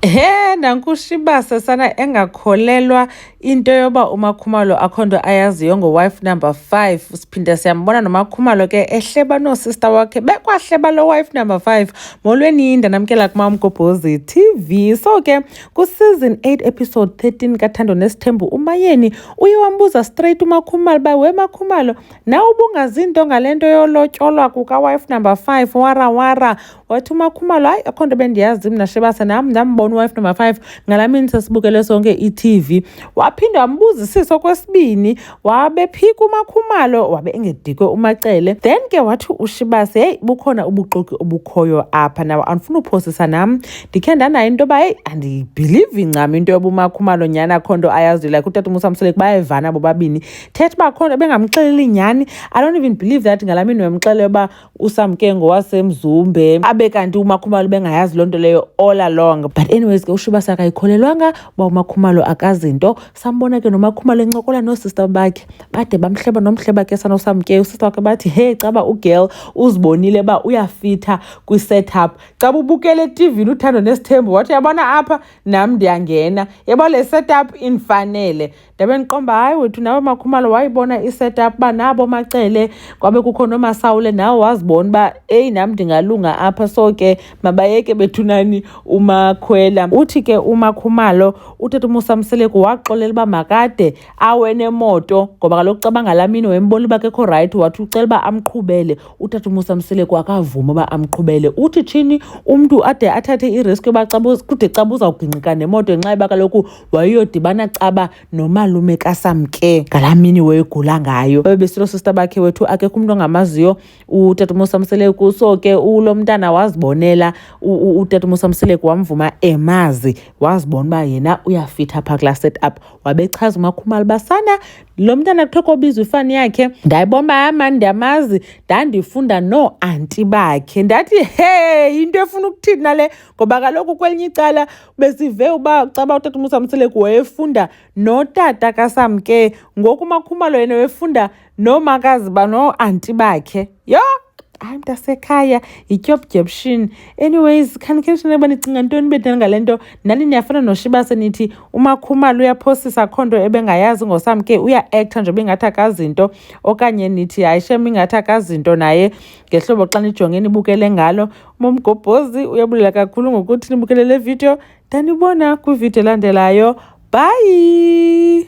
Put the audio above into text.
He, nanku uShibase sana engakholelwa into yoba uMakhumalo akho nto ayaziyo ngo-wife number five. Siphinde siyambona noMakhumalo ke ehleba noosista wakhe bekwahleba lo wife number five. Molweni ndanamkela kuma uMgobhozi TV. So ke ku-season 8 episode 13 kaThando Nesithembu uMayeni uye wambuza straight uMakhumalo uba we Makhumalo nawe ubungazi nto ngale nto yolotyolwa kuka-wife number five warawara wathi umakhumalo hayi akho nto bendiyazi mna shebase nam ndambona uwife number five ngala mini sesibukele sonke i-tv waphinde wambuzisisa okwesibini wabephika umakhumalo wabe engedikwe umacele then ke wathi ushibase heyi bukhona ubuxoki obukhoyo apha nawo andifuna uphosisa nam ndikhe ndanayo into yoba heyi andiyibhilivi ncam into yoba umakhumalo nyhani akho nto ayaziyo like utata umusa msoleki bayevana bobabini thetha uba akho nto bengamxeleli nyhani i don't even believe that ngala mini wemxele uba usamke ngowasemzumbe abe kanti umakhumalo bengayazi loo nto leyo all along but anyways ke ushiba sakayikholelwanga uba umakhumalo akazinto sambona ke nomakhumalo encokola noosista bakhe bade bamhleba nomhleba ke sanosamke usista wakhe bathi hey caba ugirl uzibonile uba uyafitha kwi-setup xa bubukele etivini uthando nesithembu wathi yabona apha nam ndiyangena yabo le setup indifanele ndabe ndiqomba hayi wethu nawe makhumalo wayibona i-setup uba nabo macele kwabe kukho nomasawule nawe wazibona uba eyi nam ndingalunga apha so ke mabayeke bethunani umakhwela uthi ke umakhumalo utata umusa mseleku waxolela uba makade awenemoto ngoba kaloku xa bangalaa mini wembona uba kekho rayithi wathi ucela uba amqhubele utata umusa mseleku akavuma uba amqhubele uthi tshini umntu ade athathe iriski yoba kude xa buzawugingqika nemoto ngenxa yoba kaloku wayeyodibana caba nomalume kasamke ngalaa mini wayegula ngayo babebesilo sista bakhe wethu akekho umntu ongamaziyo utatamosi amseleku so ke ulo mntana wazibonela utatamosi amseleku wamvuma emazi wazibona uba yena uyafitha phaa kulaa set up wabechaza umakhumali basana lo mntana kuthiwa kobizwa ifani yakhe ndayibona uba yama ndiyamazi ndandifunda nooanti bakhe ndathi he yinto efuna ukuthini nale ngoba kaloku kwelinye icala besive uba caba utata umusa mseleku wayefunda notata kasamke ngoku umakhumalo yena wefunda noomakazi banoo-anti bakhe yho hayi mntasekhaya yityobdyebshini anyways khanikhenishina uba nicinga ntoni bedani ngale nto nani niyafana noshibase nithi umakhumalo uyaphosisa kho nto ebengayazi ngosamke uya-actha nje bengathi akazinto okanye nithi hayi shem ingathi akazinto naye ngehlobo xa nijonge nibukele ngalo Momgobhozi uyabulela kakhulu ngokuthi nibukele le video. Ndanibona kwividiyo elandelayo. Bye!